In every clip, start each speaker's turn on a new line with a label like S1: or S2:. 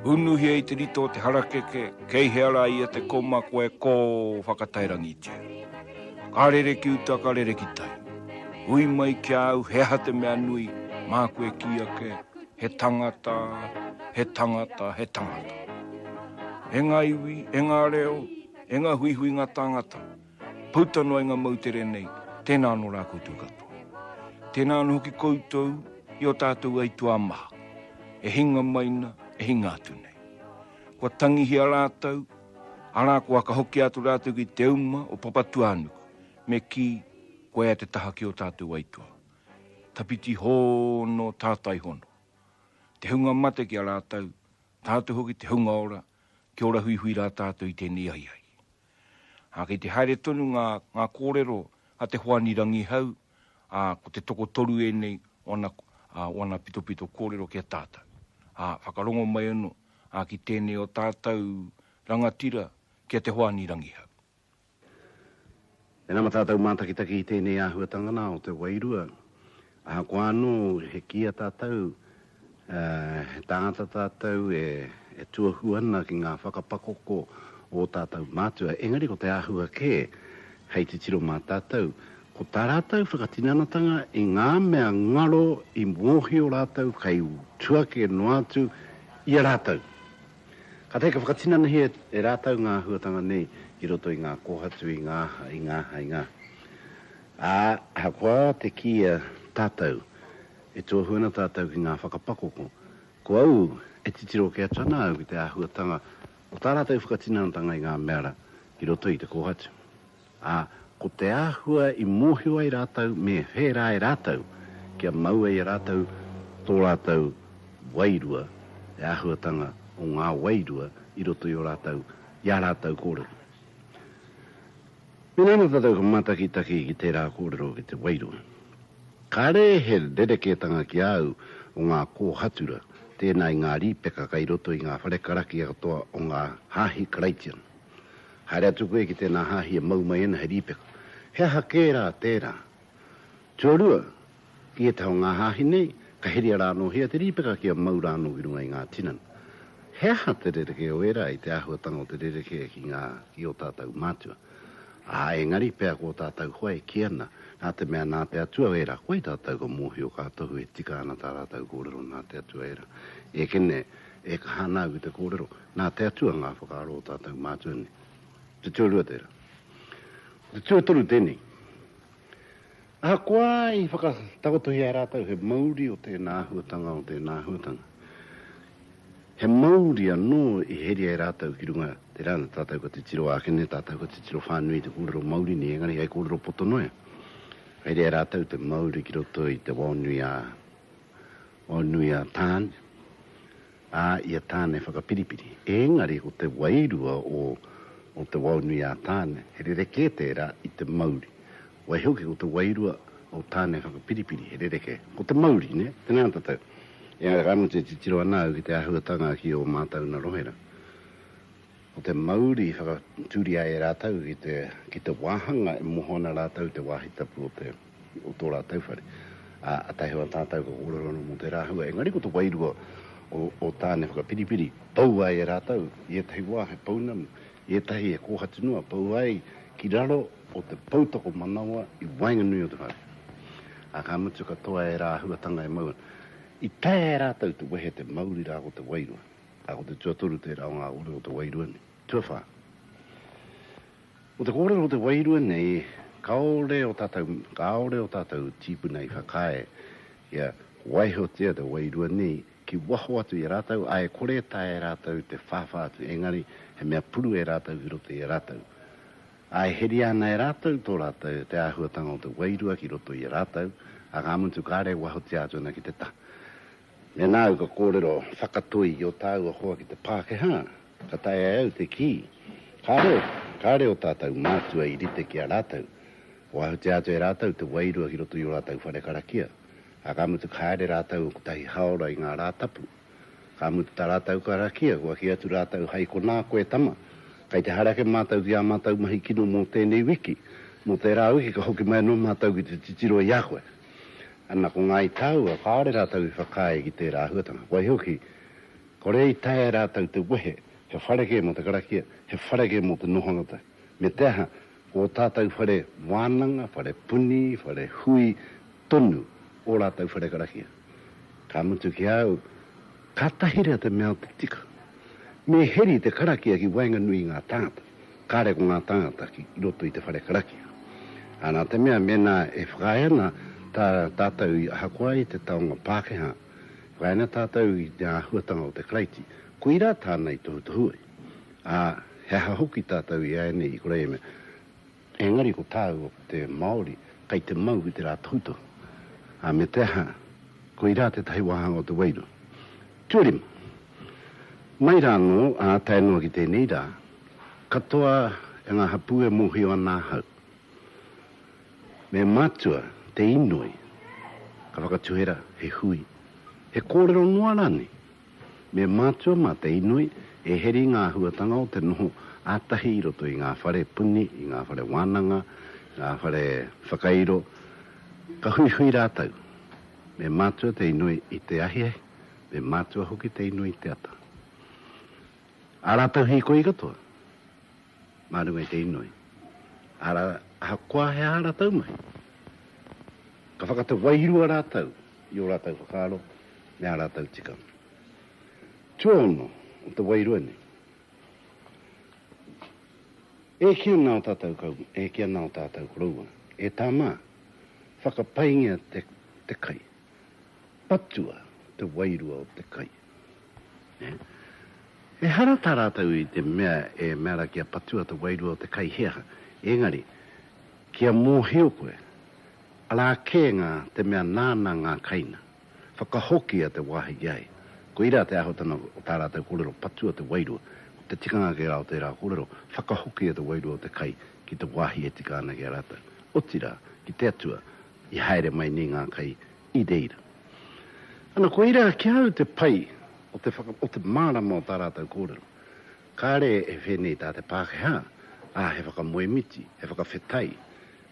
S1: Unuhia i te rito o te harakeke, kei hea rā ia te koma koe kō whakatairangitia. Ka rere ki uta, ka rere ki tai. Hui mai ki a au he aha te mea nui, māku e kī ake, he tangata, he tangata, he tangata. E ngā iwi, e ngā reo, E nga huihui nga tāngata, pouta noa i nga moutere nei, tēnā anō rā koutou katoa. Tēnā anō hoki koutou i o tātou aituā maha, e hinga mai na, e hinga atu nei. Kua tangihia rātou, arā kua whakahokia atu rātou ki te uma o Papatūānuku, me kī, koia te taha ki o tātou aituā. Tawhiti hōnō tātai hono. Te hunga mate ki a rātou, tātou hoki te hunga ora, Kia ora huihui rā tātou i tēnei ahiahi. Ā, kei te haere tonu ngā, ngā kōrero a Te Hoani Rangihau, ā, ko te tokotoru ēnei o ana, ā, o ana pitopito kōrero ki a tātou. Ā, whakarongo mai anō, ā, ki tēnei o tātou rangatira, ki a Te Hoani Rangihau.
S2: E nama tātou mātakitaki i tēnei āhuatanga nā o te wairua. Ahakoa anō he kia tātou, ā, he tāngata tātou e, e tuohu ana ki ngā whakapakoko ō tātou mātua, engari ko te āhua kē hei titiro mā tātou, ko tā rātou whakatinanatanga i ngā mea ngaro i mōhio rātou kei tua kē noa atu i a rātou. Kātahi ka whakatinanahia e rātou ngā āhuatanga nei ki roto i ngā kōhatu, i ngā aha, i ngā aha, i ngā aha. Ā, ahakoa te kīia tātou, e tuohu ana tātou ki ngā whakapakoko, ko au e titiro kē atu ana au ki te āhuatanga o tā rātou whakatinanatanga i ngā mea rā ki roto i te kōhatu. Ā, ko te āhua i mōhio ai rātou me whērā e rātou, kia maua i a rātou tō rātou wairua, te āhuatanga o ngā wairua i roto i ō rātou, i ā rātou kōrero. Mēnā ana tātou ka mātakitaki ki tērā kōrero ki te wairua, kāre he rerekētanga ki a au o ngā kōhatura, tēnā i ngā rīpeka kei roto i ngā whare karakia katoa o ngā Hāhi Karaitiana. Haere atu koe ki tēnā hāhi e mau mai ana he rīpeka. He aha kē rā tērā? Tuarua, i ētahi o ngā hāhi nei, ka heria rānōhia te rīpeka kia mau rānō ki runga i ngā tinana. He aha te rerekē o ērā i te āhuatanga o te rerekē ki ngā, ki ō tātou mātua? Ā, engari, pea ko ō tātou hoa e kī ana, nā te mea nā te Atua ērā, koai tātou ka mōhio ka tohu e tika ana tā rātou kōrero nā te Atua ērā. Ekene, e kaha ana au ki te kōrero. Nā te Atua ngā whakaaro o tātou mātua nei. Te tuarua tērā. Ko te tuatoru tēnei. Ahakoa i whakatakotohia e rātou he mauri o tēnā āhuatanga, o tēnā āhuatanga, he mauri anō i heria e rātou ki runga tērā, nā tātou ka titiro ake nei, tātou ka titiro whānui i te kōrero Māori nei, engari hei kōrero poto noa iho. Ka heria e rātou te mauri ki roto i te wao nui a, wao nui a Tāne. a ia tāne whakapiripiri, ēngari ko te wairua o o te waonui a Tāne, he rerekē tērā i te mauri. Waihoki ko te wairua o Tāne whakapiripiri, he rerekē, ko te mauri, nē, tēnā tātou. Engari ka mutu e titiro ana au ki te āhuatanga ki ō mātou na rohe rā. Ko te mauri i whakatūria e rātou ki te ki te wāhanga e moho ana rātou i te wāhi tapu o te. o tō rātou whare. Ā, a Taihoa tātou ka kōrero anō mō tērā hua, engari ko te wairua o, o Tāne whakapiripiri, pau ai e rātou i ētahi wā he pounamu, i ētahi he kōhatu noa, pau ai ki raro o te pou tokomanawa i waenganui o te whare. Ā, ka mutu ka toa e ērā āhuatanga e maua. I taea e rātou te wehe te mauri rā ko te wairua. Ā, ko te tuatoru tērā o ngā uri o te wairua nei. Tuawhā. Ko te kōrero o te wairua nei, kāore o tātou, kāore o tātou tīpuna i whakaae kia waihotia te wairua nei ki waho atu i a rātou, ā, e kore e taea e rātou te whāwhā atu, engari he mea puru e rātou ki roto i a rātou. Ā, e heria ana e rātou tō rātou, te āhuatanga o te wairua ki roto i a rātou, ā, ka mutu kāre e wahotia atu ana ki te taha. Mēnā au ka kōrero whakatoi i ō tāua hoa ki te Pākehā, ka taea e au te kī, kāre, kāre ō tātou mātua i rite ki a rātou. Kua ahutia atu e rātou te wairua ki roto i ō rātou whare karakia, ā, ka mutu ka haere rātou kotahi hāora i ngā rā tapu. Ka mutu tā rātou karakia, kua kī atu rātou, Hai konā koe, tama, kei te haere ake mātou ki ā mātou mahi kino mō tēnei wiki, mō tērā wiki ka hoki mai anō mātou ki te titiro i a koe. Ana ko Ngāi Tāua, kāore rātou i whakaae ki tērā āhuatanga. Waihoki, kore i taea e rātou te wehe, he whare kē mō te karakia, he whare kē mō te noho rātou. Me te aha, ko ō tātou whare wānanga, whare puni, whare hui tonu ō rātou whare karakia. Ka mutu ki a au, kātahi rā te mea o te tika, me heri te karakia ki waenganui i ngā tāngata. Kāre ko ngā tāngata ki roto i te whare karakia. Ā, nā te mea mēnā e whakaae ana tā tātou i ahakoa i te taonga Pākehā, e whakaae ana tātou i te āhuatanga o te Karaiti, koirā tāna i tohutohu ai. Ā, he aha hoki tātou i āianei i kore e mea, Engari ko tāua ko te Māori kei te mau i te rā tohutohu, ā, me te aha, koirā tētahi wāhanga o te wairu. Tuarima, mai rā anō, ā, tae noa ki tēnei rā, katoa e ngā hapū e mōhio ana ahau, me mātua te inoi ka whakatuhera he hui, he kōrero noa rānei, Me mātua mā te inoi e heri ngā āhuatanga o te noho ā-tahi i roto i ngā whare puni, i ngā whare wānanga, i ngā whare whakairo, ka huihui rātou. Me mātua te inoi i te ahiahi, me mātua hoki te inoi i te ata. Ā rātou hīkoi katoa. mā runga i te inoi, arā, ahakoa he aha rātou mahi, ka whakatau wairua rātou i ō rātou whakaaro me ā rātou tikanga. Tuaono o te wairua nei, E eke ana ō tātou kaumā, e eke ana ō tātou koroua, e tā mā, whakapaingia te kai, patua te wairua o te kai. Ehara tā rātou i te mea e mea ana kia patua te wairua o te kai he aha, engari, kia mōhio koe, arā kē ngā te mea nāna ngā kaina, whakahokia te wāhi ki a ia. Koirā te āhuatanga o tā rātou kōrero, patua te wairua, ko te tikanga kē rā o tērā kōrero, whakahokia te wairua o te kai ki te wāhi e tika ana ki a rātou, otirā, ki te Atua, i haere mai nei ngā kai i reira. Ana, koirā ki a au te pai o te whaka, o te mārama o tā rātou kōrero. Kāre e whēnei tā te Pākehā, ā, he whakamoemiti, he whakawhetai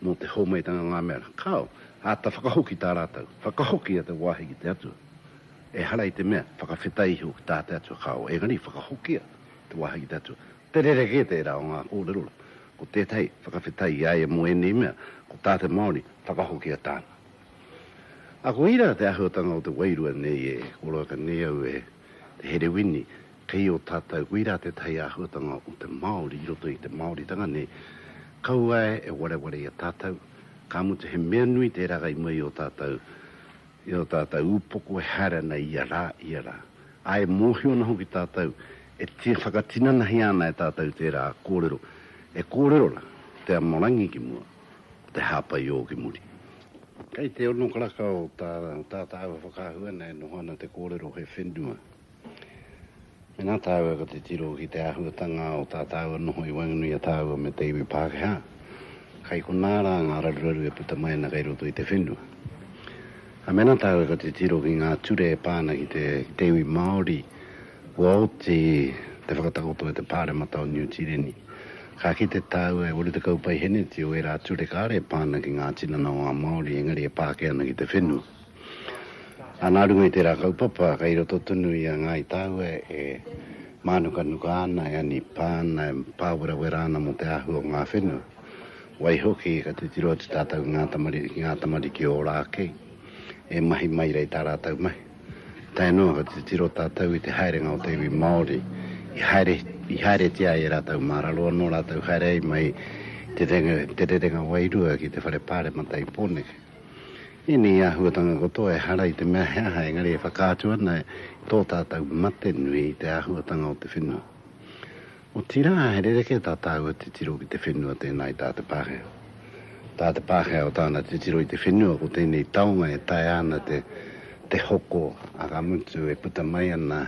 S2: mō te hōmaitanga ngā mea rā. Kāo, āta whakahoki tā rātou, whakahoki a te wāhi ki te Atua. Ehara i te mea, whakawhetai iho ki tā te Atua, kāo, engari whakahokia te wāhi ki te Atua. Te rerekē tērā o ngā kōrero rā. Ko tētahi, whakawhetai i a ia mō ēnei mea, ko tā te Māori, whakahokia tāna. A kohi ra te ahuatanga o te wairua nei e, koroaka nei au e, te herewini, kei o tatou, kohi ra tetahi ahuatanga o te Maori i roto i te Maoritanga nei, kaua e wareware i a tatou, ka mutu he mea nui te ragai mai i o tatou, i o tatou upoko e haere ana ia ra, ia ra. A e mohio ana hoki tatou, e whakatinanahia ana e tatou tera korero, e korero ra te amorangi ki mua. te hāpai i ō ki muri. Kei te ono karaka o tā tātau e whakaahua ana e noho ana te kōrero he whenua. Mēnā tāua ko te tiro ki te āhuatanga o tā tāua noho i waenganui a tāua me te iwi Pākehā, kai konā rā ngā raruraru e puta mai ana kei roto i te whenua. Ā, mēnā tāua ko te tiro ki ngā ture e pā ana ki te iwi Māori, Kua oti te whakatakoto e te Pāremata o Niu Tīreni. Ka kite tāua e 80 paiheneti o ērā ture kāre e pā ana ki ngā tinana o ngā Māori engari e pā ake ana ki te whenua. Ā, nā runga i tērā kaupapa, kei roto tonu i a Ngāi tāua e mānukanuka ana, e anipā ana, e pāwerawera ana mō te āhua o ngā whenua. Waihoki, ka titiro atu tātou ki ngā tamariki ora ake, e mahi mai rei tā rātou mahi. Tae noa ka titiro tātou i te haerenga o te iwi Māori, i haere, i haeretia ai e rātou mā raro anō rātou haere ai mai i te rerenga, te rerenga wairua ki te Whare Pāremata i Pōneke. Ēnei āhuatanga katoa ehara i te mea he aha engari e whakaatu ana i tō tātou mate nui i te āhuatanga o te whenua. Otirā, he rerekē tā tāua titiro ki te whenua tēnā i tā te Pākehā. Tā te Pākehā o tāna titiro i te whenua ko tēnei taonga e taea ana te te hoko a ka mutu e puta mai ana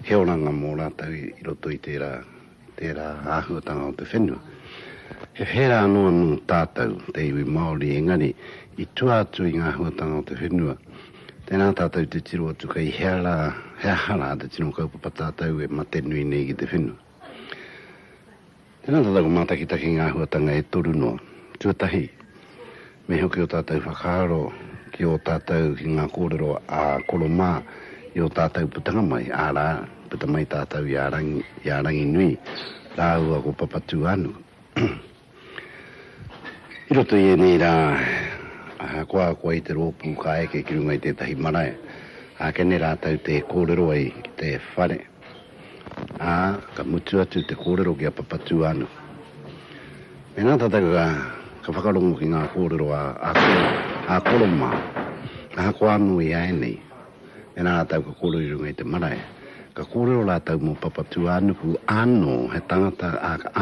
S2: he oranga mō rātou i roto i tērā i tērā āhuatanga o te whenua. He whērā anō anō tātou, te iwi Māori, engari i tua atu i ngā āhuatanga o te whenua. Tēnā tātou te tiro atu kei hea rā, he aha rā te tino kaupapa tātou e mate nui nei ki te whenua. Tēnā tātou ka mātakitaki ngā āhuatanga e toru noa. Tuatahi, me hoki o tātou whakaaro ki ō tātou, ki ngā kōrero a koro mā i ō tātou putanga mai, ārā, puta mai tātou i a Rangi, i a Ranginui rāua ko Papatūānuku. I roto i ēnei rā, ahakoa kua i te rōpū ka eke ki runga i tētahi marae, ākene rātou tē kōrero ai ki te whare, ā, ka mutu atu te kōrero ki a Papatūānuku. Mēnā tātou ka whakarongo ki ngā kōrero a Koro mā, ahakoa anō i ēnei, e rātou ka kōrero i runga i te marae. Ka kōrero rātou mō Papatūānuku ānō, he tangata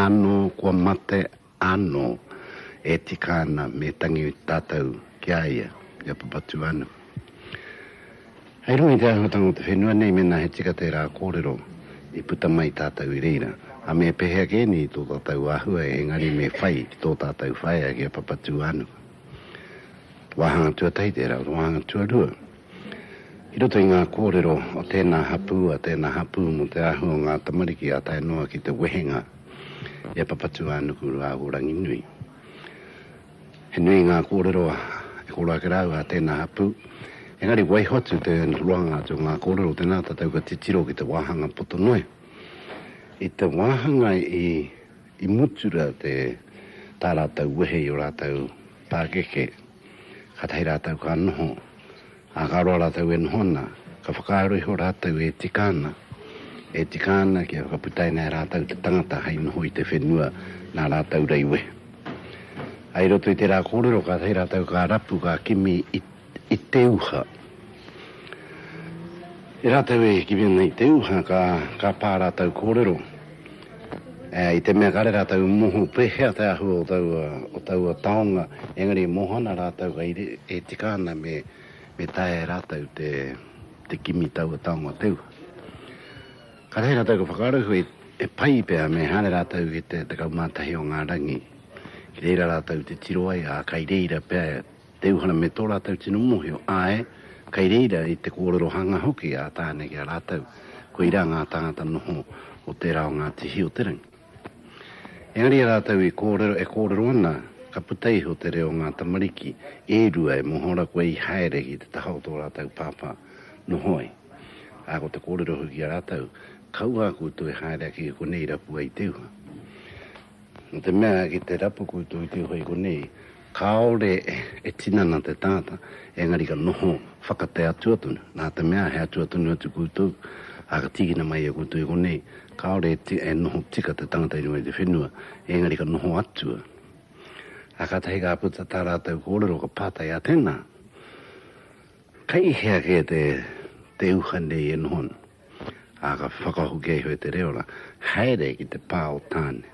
S2: ānō kua mate ānō e tika ana me tangi tātou ki a ia, ki a Papatūānuku. Hei runga i te āhuatanga o te whenua nei mēnā he tika tērā kōrero i puta mai tātou i reira, a me pēhea kē nei tō tātou āhua engari me whai ki tō tātou whaea ki a Papatūānuku. Wāhanga tuatahi tērā, wāhanga tuarua. I roto i ngā kōrero o tēnā hapū, a tēnā hapū mō te āhua o ngā tamariki ā tae noa ki te wehenga i a Papatūānuku rāua ko Ranginui. He nui ngā kōrero e kōrero ake rāua a tēnā hapū, engari waiho atu te roanga atu o ngā kōrero tēnā tātou ka titiro ki te wāhanga poto noa. I te wāhanga i mutu rā tā rātou wehe i ō rātou Pakeke, katahi ratou ka noho, a ka roa ratou e noho ana, ka whakaaro iho ratou e tika ana, e tika ana kia whakaputaina e ratou te tangata hei noho i te whenua na ratou rei wehe. I roto i tera korero katahi ratou ka rapu ka kimi i. i te uha. I rātou e hiki mena i te uha ka, ka pā rātou kōrero, ā, i te mea kāre rātou i moho pēhea te āhua o taua, o taua taonga, engari e moho ana rātou kai re, e tika ana me, me taea e rātou te, te kimi i taua taonga o te uha. Kātahi rātou ka whakaaro he, he pai pea me haere rātou ki te 11 o ngā rangi, ki reira rātou te tiro ai, ā, kai reira pea Te Uhana me tō rātou tino mōhio, āe, kei reira i te kōrero hanga hoki a Tāne ki a rātou, koirā ngā tāngata noho o tērā o ngā tihi o te rangi. Engari e rātou i kōrero, e kōrero ana, ka puta iho te reo o ngā tamariki e rua e moho ana koe i haere ki te taha o tō rātou pāpā noho ai, ā, ko te kōrero hoki ki a rātou, Kaua a koutou e haere ake ki konei rapua i te uha. Nō te mea, ki te rapu kūtuitui hoi konei, kāore e tinana te tangata, engari ka noho whakate atua tonu. Nā te mea, he atua tonu atu kūtou, ā, ka tīkina mai e kūtou i konei, kāore e noho tika te tangata i runga i te whenua, engari ka noho atua. Ā, kātahi ka puta tā rātou kōrero, ka pātai, Ā tēnā, kei hea kē te uha nei e noho ana? ā, ka whakahokia iho e te reo rā, Haere ki te pā o Tāne,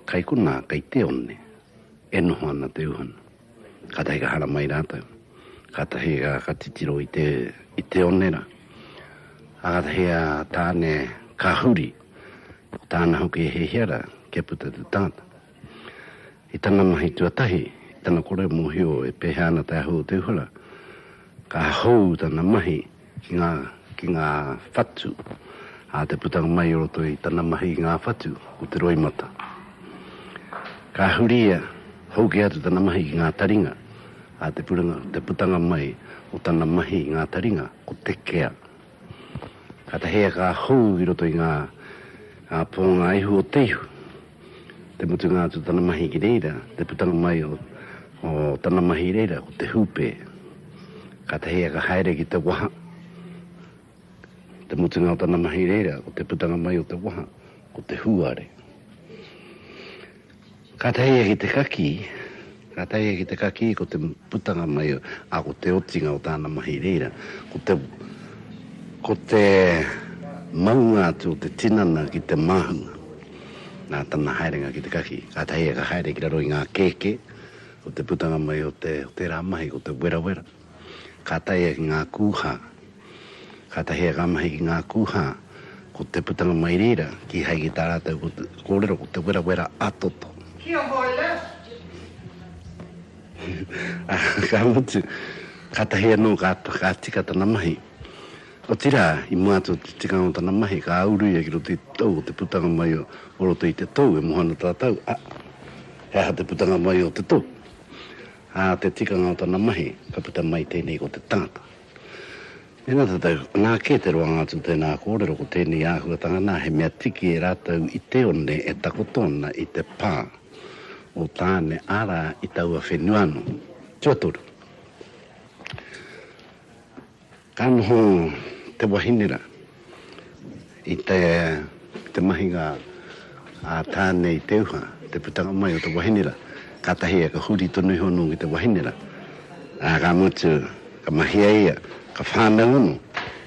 S2: kai konā, kai Teone, e noho ana te uhana. Kātahi ka hara mai rātou, kātahi ka titiro i te, i Teone rā, ā, kātahi a Tāne ka huri, ko tāna hoki he hia rā, kia puta te tangata. I tana mahi tuatahi, i tana kore mōhio e pēhea ana te ahu o te uhura, ka hou tana mahi ki ngā, ki ngā whatu, ā, te putanga mai i roto i tana mahi i ngā whatu, ko te roimata. Ka huri ia, hou kē atu tana mahi ki ngā taringa, ā, te putanga mai o tana mahi i ngā taringa, ko te kea. Ka tahi a ka hou i roto i nga ponga ihu o te ihu. Te mutunga atu o tana mahi ki reira, te putanga mai o tana mahi i reira ko te hupe. Ka tahi a ka haere ki te waha. Te mutunga o tana mahi i reira ko te putanga mai o te waha, ko te huare. Ka taea ki te kakī, ka taea ki te kakī ko te putanga mai, ā, ko te otinga o tāna mahi i reira, ko te, ko te maunga atu o te tinana ki te māhunga. Nā tana haerenga ki te kakī, ka taea ka haere ki raro i ngā kēkē, ko te putanga mai o te, o tērā mahi, ko te werawera. Ka taea ki ngā kūhā, ka tahea ngā mahi ki ngā kūhā, ko te putanga mai reira kīhai ki tā rātou kōrero ko te werawera a toto. Kia hoi la! Ka mutu, kātahi anō ka tika tana mahi. Otirā, i mua atu i te tikanga o tana mahi, ka uru ia ki roto i te tou o te putanga mai o roto i te tou e moho ana tātou, ā, he aha te putanga mai o te tou? Ā te tikanga o tana mahi, ka puta mai tēnei ko te tangata. Mēnā tātou, nā kē te roanga atu o tēnā kōrero ko tēnei āhuatanga, nā, he mea tiki e rātou i Teone e takoto ana i te pā o Tāne, arā, i taua whenua anō. Tuatoru. Ka noho te wahine ra i te mahinga a Tane i te uha, te putanga mai o te wahine ra, katahi e ka huri tonu iho no ki te wahine ra, a ka mutu ka mahia ia, ka whanau ano,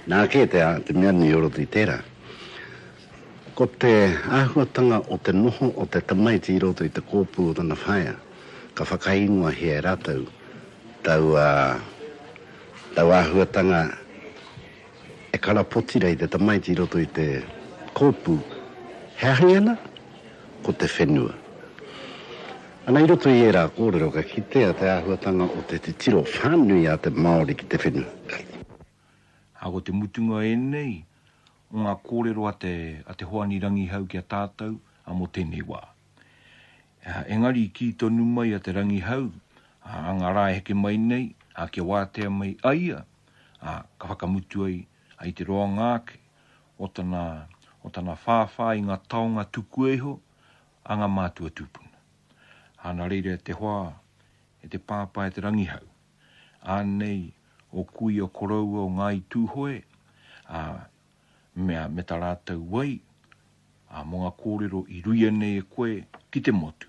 S2: na ke te mea nui o roto i tera. Ko te ahuatanga o te noho o te tamaiti i roto i te kopu o tana whaea, ka whakaingoahia e ratou taua Tau āhuatanga e karapoti nei te tamaiti i roto i te kōpū, he ahi ana? Ko te whenua. Ana, i roto i ērā kōrero ka kitea te āhuatanga o te titiro whānui a te Māori ki te whenua.
S1: Ā, ko te mutunga ēnei o ngā kōrero a te Hoani Rangihau ki a tātou mō tēnei wā. Engari i kī tonu mai a Te Rangihau, ā, ngā rā e heke mai nei, ā, kia wātea mai a ia, ā, ka whakamutu ai, ā, i te roanga ake o tana, o tana whāwhā i ngā taonga tukua iho a ngā mātua tūpuna. Ā, nā reira e te hoa, e te pāpā, e Te Rangihau, ānei ō kūia koroua o Ngāi Tūhoe, ā, mea me ta ratou wai, a mo nga korero i ruia nei e koe ki te motu,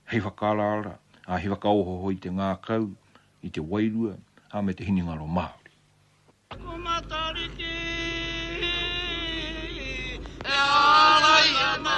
S1: hei whakaaraara, a hei whakaohoho i te ngakau, i te wairua, a me te hinengaro Maori. Ko Matariki e ārai ana.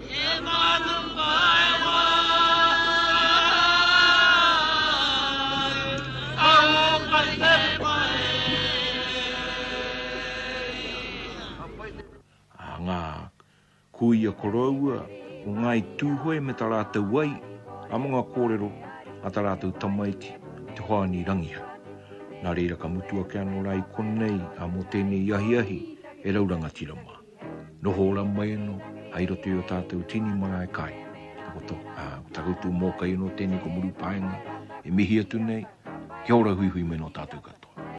S1: A ngā kūia koroua o Ngāi Tūhoe me tā rātou wai, ā, me ngā kōrero a tā rātou tamaiti, Te Hoani Rangiha. Nā reira ka mutu ake anō rā i konei, ā, mō tēnei ahiahi e rau rangatira mā. Noho ora mai ano hai roto i o tatou tini marae kai. Takoto, a, ko ta koutou mokai ano tenei ko Murupaenga, e mihi atu nei, kia ora huihui mai no tatou katoa.